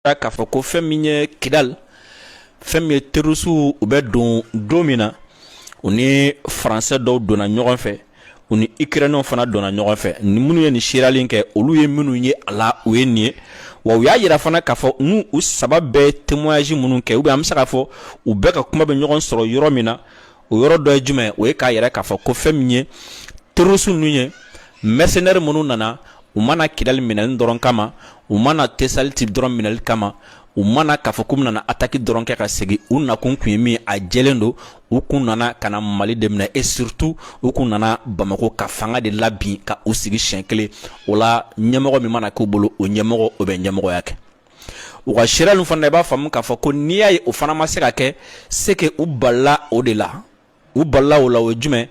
k'a fɔ ko fɛn min ye kidali fɛn min ye terɔrisiw u bɛ don don min na u ni faransɛ dɔw donna ɲɔgɔn fɛ u ni ikirɛniyɛnw fana donna ɲɔgɔn fɛ ni minnu ye nin seereya nin kɛ olu ye minnu ye a la u ye nin ye wa u y'a yira fana k'a fɔ n'u u saba bɛɛ ye témoignage minnu kɛ u bɛ an bɛ se k'a fɔ u bɛɛ ka kuma bɛ ɲɔgɔn sɔrɔ yɔrɔ min na o yɔrɔ dɔ ye jumɛn o ye k'a yira k'a fɔ ko fɛn min ye terroristes ninnu ye mercenaires minnu nana u ma na Kidali minɛli dɔrɔn kama u ma na Tesaliti dɔrɔn minɛli kama u ma na k'a fɔ k'u nana ataki dɔrɔn kɛ ka segin u nakun kun ye min ye a jɛlen don u kun nana ka na mali de minɛ et surtout u kun nana bamako ka fanga de labin ka u sigi siɲɛ kelen o la ɲɛmɔgɔ min mana k'u bolo o ɲɛmɔgɔ o bɛ ɲɛmɔgɔya kɛ u ka seereya ninnu fana i b'a faamu k'a fɔ ko n'i y'a ye o fana ma se ka kɛ c'est que u balila o de la u balila o la o ye jumɛn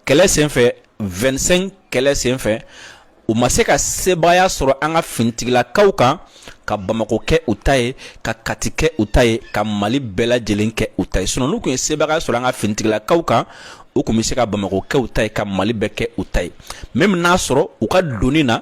kɛlɛ senfɛ 25 kɛlɛ senfɛ u ma se ka sebaaya sɔrɔ an ka finitigilakaw kan ka Bamako kɛ u ta ye ka Kati kɛ u ta ye ka Mali bɛɛ lajɛlen kɛ u ta ye sinon n'u kun ye sebaaya sɔrɔ an ka finitigilakaw kan u kun bɛ se ka Bamako kɛ u ta ye ka Mali bɛɛ kɛ u ta ye même n'a sɔrɔ u ka donni na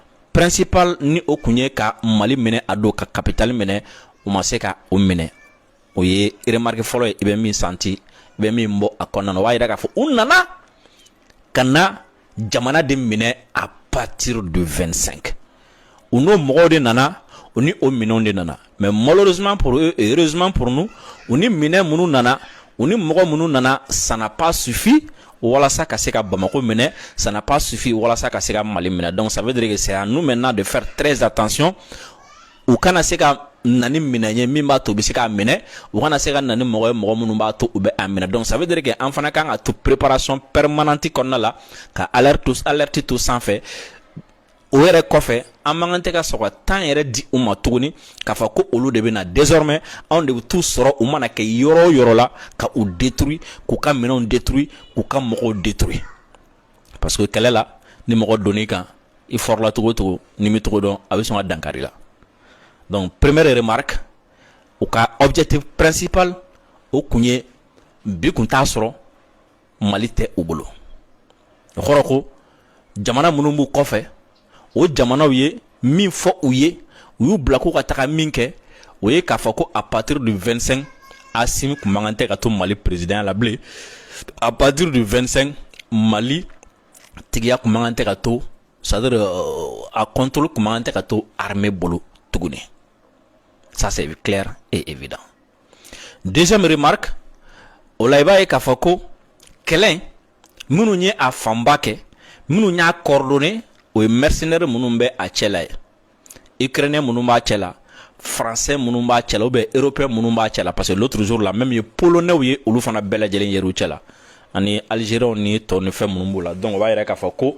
principal nin o kun ye ka mali minɛ a don ka kapitali minɛ u ma se ka o minɛ o ye remarque fɔlɔ ye i bɛ min santi i bɛ min bɔ a kɔnɔna o b'a yira k'a fɔ u nana ka na jamana de minɛ à partir du 25 u n'o mɔgɔw de nana u ni o minɛnw de nana mɛ mɔz purrezuma purun u ni minɛ minnu nana u ni mɔgɔ minnu nana san pa sufin walasa ka se ka bamakɔ minɛ san pa sufin walasa ka se ka mali minɛ dɔn saba de saya n'u mɛ n'a de fɛ tzsa tancyɔn u kana se ka na minɛn ye min b'a to u bɛ se k'a minɛ u kana se ka na mɔgɔ ye mɔgɔ minnu b'a to u bɛ a minɛ dɔn saba de kɛ an fana kan ka to perepsɔnɔn pɛremananti kɔnɔna la ka alati to sanfɛ o yɛrɛ kɔfɛ an man kan tɛ ka sɔn ka temps yɛrɛ di u ma tuguni k'a fɔ ko olu de bɛ na désormais anw de bɛ t'u sɔrɔ u mana kɛ yɔrɔ o yɔrɔ la ka u détruire k'u ka minɛnw détruire k'u ka mɔgɔw détruire parce que kɛlɛ la ni mɔgɔ donn'i kan i fɔrɔla cogo o cogo n'i m'i cogo dɔn a bɛ sɔn ka dankari i la donc première remarque u ka objectif principal o kun ye bi kun t'a sɔrɔ mali tɛ u bolo o kɔrɔ ko jamana minnu b'u kɔfɛ o jamanaw ye min fɔ u ye u y'u bila k'u ka taga min kɛ o ye k'a fɔ ko à partir du 25 asimi kun man kan tɛ ka to mali peresidanya la bilen à partir du 25 mali tigiya kun man kan tɛ ka to c'est-à-dire euh, a contrôle kun man kan tɛ ka to armée bolo tuguni ça c'est clair et évident deuxième remarque o la i b'a ye k'a fɔ ko kɛlɛ minnu ye a fanba kɛ minnu y'a coordonné o ye mercenaires minnu bɛ a cɛla ye ukrainiens minnu b'a cɛla français minnu b'a cɛla ou bien européens minnu b'a cɛla parce que l'autre jour là même ye polonais ye olu fana bɛɛ lajɛlen yer'u cɛla ani algériens ni tɔ ni fɛn minnu b'u la donc o b'a yira k'a fɔ ko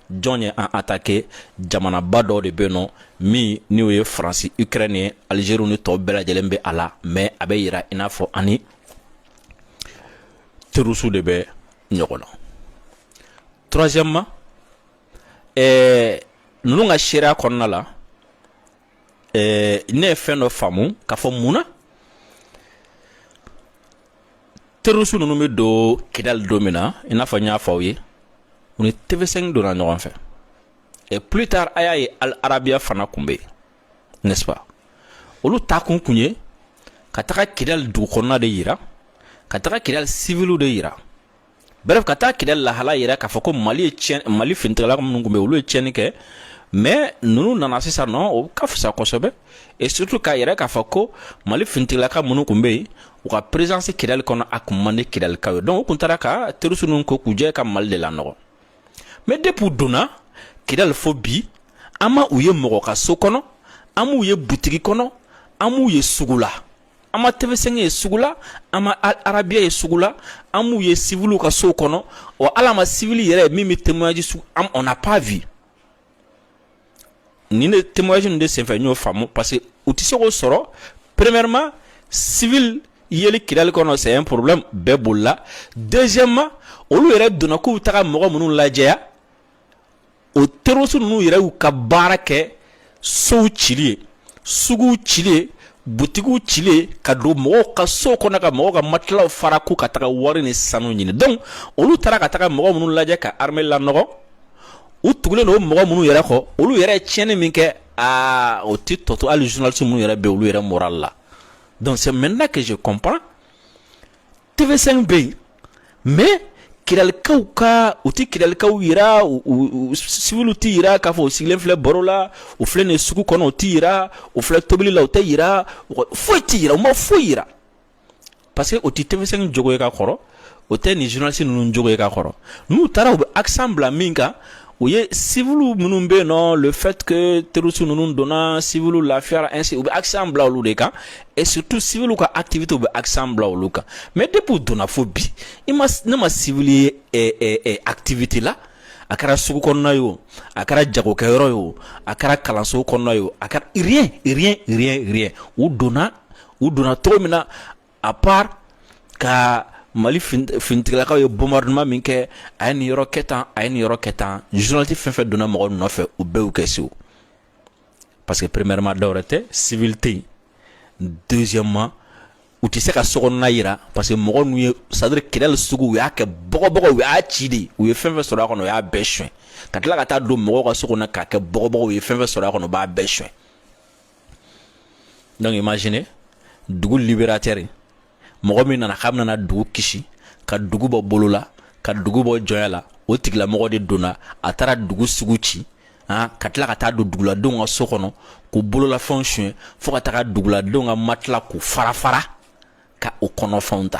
jɔn ye an atake jamanaba dɔ de bɛ nɔ min n'o ye faransi ukraine ye algérie ni tɔw bɛɛ lajɛlen bɛ a la mais a bɛ yira i n'a fɔ an ni terroristes de bɛ ɲɔgɔn na troisièmement ɛɛ ninnu ka seereya kɔnɔna la ɛɛ ne ye fɛn dɔ faamu k'a fɔ mun na terroriste ninnu bɛ don kidali don min na i n'a fɔ n y'a fɔ aw ye u ni tv5 donna ɲɔgɔn fɛ et plus tard a y'a ye al arabiya fana kun bɛ yen n'est ce pas olu taakun kun ye ka taga kidali dugu kɔnɔna de yira ka taga kidali siviliw de yira bref ka taa kidali lahala yira k'a fɔ ko mali ye tiɲɛ mali finitigilaka minnu kun bɛ olu ye tiɲɛni kɛ mais ninnu nana sisan nɔ o ka fisa kosɛbɛ et surtout k'a yira k'a fɔ ko mali finitigilaka minnu kun bɛ yen u ka présence kidali kɔnɔ a kun man di kidalikaw ye donc u kun taara ka terroriste ninnu ko k'u jɛ ka mali de lanɔgɔ mais depuis u donna kidali fo bi an ma u ye mɔgɔ ka so kɔnɔ an m'u ye butigi kɔnɔ an m'u ye sugu la an ma tɛmɛsen ye sugu la an ma arabubiya ye sugu la an b'u ye siw ka so kɔnɔ o ala ma siv yɛrɛ min bɛ tɛmɛji na pa v nin de tɛmɛjy de senfɛ n'o faamu parce que u tɛ se k'o sɔrɔ premema siv yeli kili kɔnɔ sɛ porobi bɛɛ boli la dɛsɛma olu yɛrɛ donna k'u taga mɔgɔ minnu lajɛya o terroriste ninnu yɛrɛ y'u ka baara kɛ sow cili ye suguw cili ye butigiw cili ye ka don mɔgɔw ka so kɔnɔ ka mɔgɔw ka matilaw fara k'u ka taga wari ni sanu ɲini donc olu taara ka taga mɔgɔ minnu lajɛ ka armée lanɔgɔ u tugulen don mɔgɔ minnu yɛrɛ kɔ olu yɛrɛ tiɲɛni min kɛ aa o tɛ tɔ to hali journaliste minnu yɛrɛ bɛ olu yɛrɛ moral la donc c'est maintenant que je comprends tv5 bɛ yen mais kidalikaw ka u tɛ kidalikaw yira u siviliw tɛ yira k'a fɔ u sigilen filɛ baro la u filɛ nin sugu kɔnɔ u tɛ yira u filɛ tobili la u tɛ yira foyi tɛ yira u ma foyi yira parce que o tɛ tv5 jogo ye ka kɔrɔ o tɛ nin journaliste ninnu jogo ye ka kɔrɔ n'u taara u bɛ accent bila min kan u ye siwiliw minnu bɛ yen non le fait que terroriste ninnu donna siwiliw lafiyayara ainsi u bɛ accent bila olu de kan et surtout siwiliw ka activité u bɛ accent bila olu kan mais depuis u donna fo bi i ma ne ma siwili ye activité la a kɛra sugu kɔnɔna ye o a kɛra jagokɛyɔrɔ ye o a kɛra kalanso kɔnɔna ye a kɛra rien rien rien rien u donna u donna cogo min na à part ka mali finitigilakaw ye bombardement min kɛ a ye nin yɔrɔ kɛ tan a ye nin yɔrɔ kɛ tan journaliste fɛn fɛn donna mɔgɔ nɔfɛ u bɛɛ kɛ c'est parce que premièrement dɔwɛrɛ tɛ siwili tɛ yen deuxièmement u tɛ se ka so kɔnɔna jira parce que mɔgɔ ninnu ye c'est à dire kidali sugu u y'a kɛ bɔgɔbɔgɔ u y'a ci de u ye fɛn fɛn sɔrɔ a kɔnɔ u y'a bɛɛ suɲɛ ka tila ka taa don mɔgɔw ka so kɔnɔ k'a kɛ bɔgɔbɔgɔ u ye fɛn fɛn sɔrɔ a kɔnɔ u b'a bɛɛ suɲɛ donc imagine dugu libérateur mɔgɔ min nana k'a nana dugu kisi ka dugu bɔ bolo la ka dugu bɔ jɔnya la o tigilamɔgɔ de donna a taara dugu sugu ci han ka tila ka taa don duguladenw ka so kɔnɔ k'u bololafɛnw suɲɛ fɔɔ ka taga duguladenw ka matila k'u farafara ka o kɔnɔfɛnw ta